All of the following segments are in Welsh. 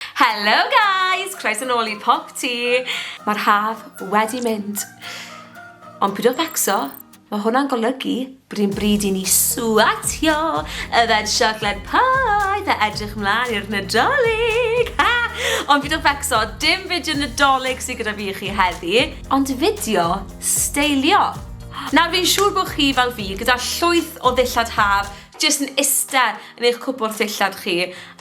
Hello guys! Croeso nôl i Pop Tea! Mae'r haf wedi mynd. Ond pwyd o facso, mae hwnna'n golygu bod yn bryd i ni swatio y fed siocled poeth a edrych mlaen i'r Nadolig! Ha! Ond pwyd o facso, dim fideo Nadolig sydd gyda fi i chi heddi, ond fideo steilio! Nawr fi'n siŵr bod chi fel fi gyda llwyth o ddillad haf jyst yn iste yn eich cwpwrdd dillad chi,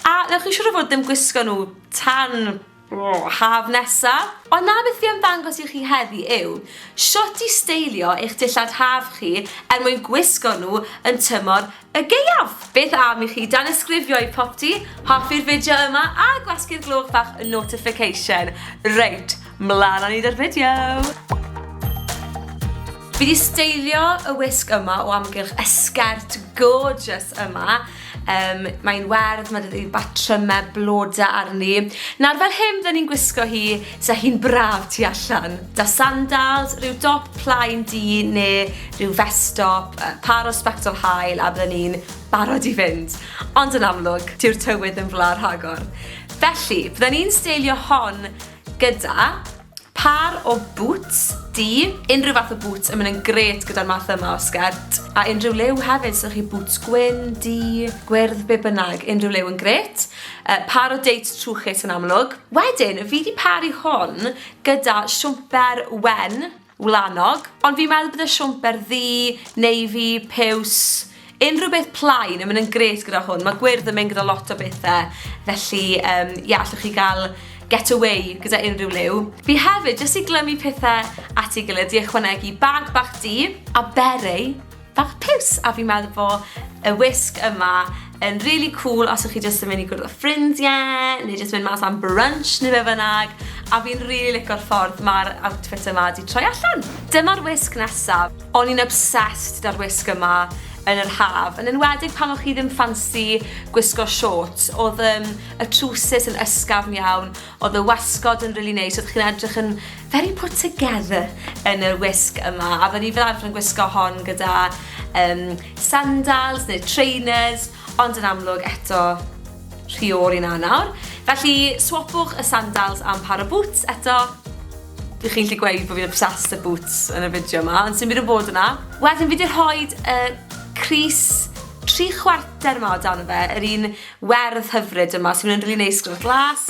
a newch chi siŵr o fod ddim gwisgo nhw tan haf nesa. Ond na beth fi am ddangos i chi heddi yw shwt i steilio eich dillad haf chi er mwyn gwisgo nhw yn tymor y gaeaf! Beth am i chi danysgrifio i Popty, hoffi'r fideo yma a gwasgu'r gloch fach notification. Reit! Mlaen â ni 'da'r fideo! Fi 'di steilio y wisg yma o amgylch y sgert gorgeous yma. Um, mae'n werdd, mae dydi batrymau bloda arni. Nawr fel hyn fydden ni'n gwisgo hi, sa hi'n braf tu allan. Da sandals, rhyw dop plaen di neu rhyw festop, par o spectol hael a fydden ni'n barod i fynd. Ond yn amlwg, tiw'r tywydd yn fla rhagor. Felly, fydden ni'n steilio hon gyda pâr o bŵts du, unrhyw fath o bŵts yn mynd yn gret gyda'r math yma o sgert, a unrhyw liw hefyd, so chi bŵts gwyn, du, gwyrdd, be bynnag, unrhyw liw yn gret. Uh, pâr o deit trwchus yn amlwg. Wedyn, fi di paru hwn gyda siwmper wen, wlanog, ond fi'n meddwl bydde siwmper ddu, navy, piws, unrhyw beth plaen yn mynd yn gret gyda hwn. Mae gwyrdd yn mynd gyda lot o bethau, felly um, yeah, allwch chi gael get away gyda unrhyw liw. Fi hefyd, jyst i glymu pethau at ei gilydd, di ychwanegu bag bach di, a beret, bach piws a fi'n meddwl bo y wisg yma yn really cool os ych chi jyst yn mynd i gwrdd â ffrindiau neu jyst mynd mas am brunch neu fe fynnag a fi'n really licio'r ffordd mae'r outfit yma di troi allan. Dyma'r wisg nesaf. O'n i'n obsessed da'r wisg yma yn yr haf, yn enwedig pan o'ch chi ddim ffansi gwisgo shorts, oedd um, y trwsus yn ysgafn iawn, Oedd y wasgod yn rili neis, oeddech chi'n edrych yn very put together yn yr wisg yma, a fydden ni fel arfer yn gwisgo hon gyda um, sandals neu trainers, ond yn amlwg eto rhy o'r i na nawr. Felly swapwch y sandals am par o boots eto, Dwi chi'n gallu gweud bod fi'n obsessed â boots yn y fideo yma, ond sy'n byd o bod yna. Wedyn fi wedi rhoi y uh, Cris tri chwarter yma o dan fe, yr un Werdd hyfryd yma, so mae'n rili neis gyda'r glas.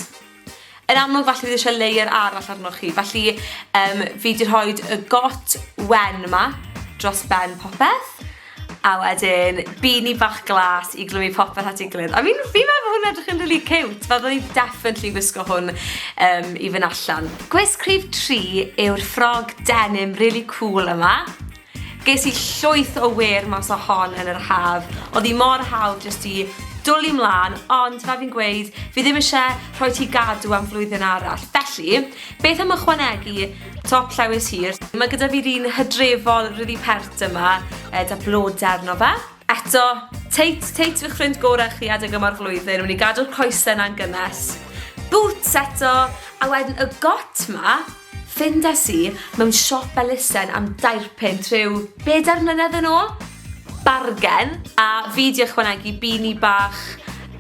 Yn amlwg falle bydd eisiau layer arall arnoch chi, felly um, fi wedi rhoi y got wen yma dros ben popeth a wedyn bini bach glas i glymu popeth at ei gilydd. I mean, fi meddwl hwn edrych yn really cute, fel dwi definitely gwisgo hwn um, i fynd allan. Gwisg rhif 3 yw'r ffrog denim really cool yma. Ges i llwyth o wêr mas o hon yn yr haf. Odd hi mor hawdd jyst i dwli mlan, ond fel fi'n gweud, fi ddim eisiau rhoi ti gadw am flwyddyn arall. Felly, beth am ychwanegu top llewys hir? Mae gyda fi'r un hydrefol ryddi pert yma, e, da blodau arno fe. Eto, teit, teit fy ffrind gorau chi adeg yma'r flwyddyn, wedi gadw'r coesau na'n gynnes. Boots eto, a wedyn y got ma, Fyndes i mewn siop elusen am dair punt rhyw bedair mlynedd yn ôl. Bargen! A fi 'di ychwanegu bini bach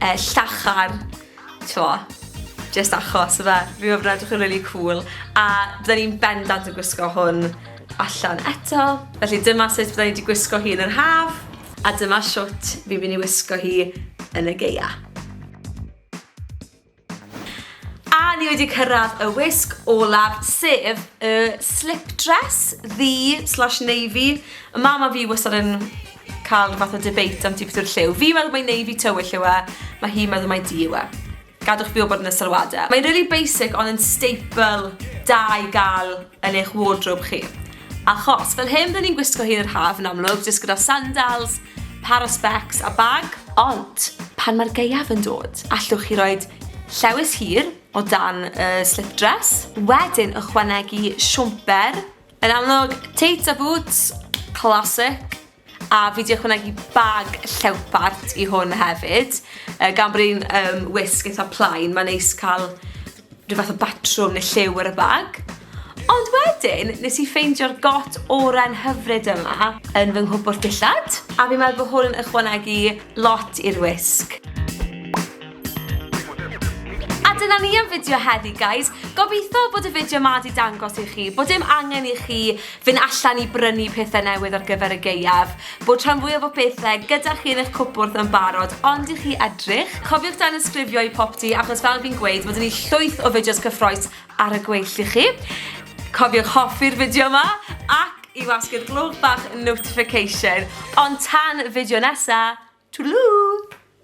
yy llachar, t'mo', jyst achos yfe? Fi'n meddwl bod e'n edrych yn rili cŵl, a bydden i'n bendant yn gwisgo hwn allan eto. Felly dyma sut bydden i 'di gwisgo hi yn yr haf, a dyma shwt fi'n mynd i wisgo hi yn y gaea. A ni wedi cyrraedd y wisg olaf, sef y slip dress ddi slash navy. Y mam a fi wastad yn cael rhywbeth o debate am ti beth yw'r lliw. Fi meddwl mae navy tywyll yw e, mae hi'n meddwl mae di yw e. Gadwch fi o bod yn y sylwadau. Mae'n really basic ond yn staple da i gael yn eich wardrobe chi. Achos, fel hyn rydyn ni'n gwisgo hi yn yr haf yn amlwg, jyst gyda sandals, par o specs a bag. Ond, pan mae'r gaeaf yn dod, allwch chi roi llewys hir o dan y slip dress, wedyn ychwanegu siwmper, yn amlwg, teits a bŵts, classic, A fi 'di ychwanegu bag llewpart i hwn hefyd, uh, gan bod hi'n um, wisg eitha plaen, mae'n neis cael rhyw fath o batrwm neu lliw ar y bag. Ond wedyn, nes i ffeindio'r got oren hyfryd yma yn fy nghwpwrdd dillad, a fi'n meddwl bod hwn yn ychwanegu lot i'r wisg. A dyna ni am fideo heddi, guys. Gobeithio bod y fideo ma di dangos i chi bod dim angen i chi fynd allan i brynu pethau newydd ar gyfer y geiaf, bod rhan fwyaf o bethau gyda chi yn eich cwpwrdd yn barod, ond i chi edrych. Cofiwch dan ysgrifio i popty, achos fel fi'n gweud, mae gen i llwyth o fideos cyffroes ar y gweill i chi. Cofiwch hoffi'r fideo yma ac i wasgu'r gloch bach notification. Ond tan y fideo nesa, twdlŵ!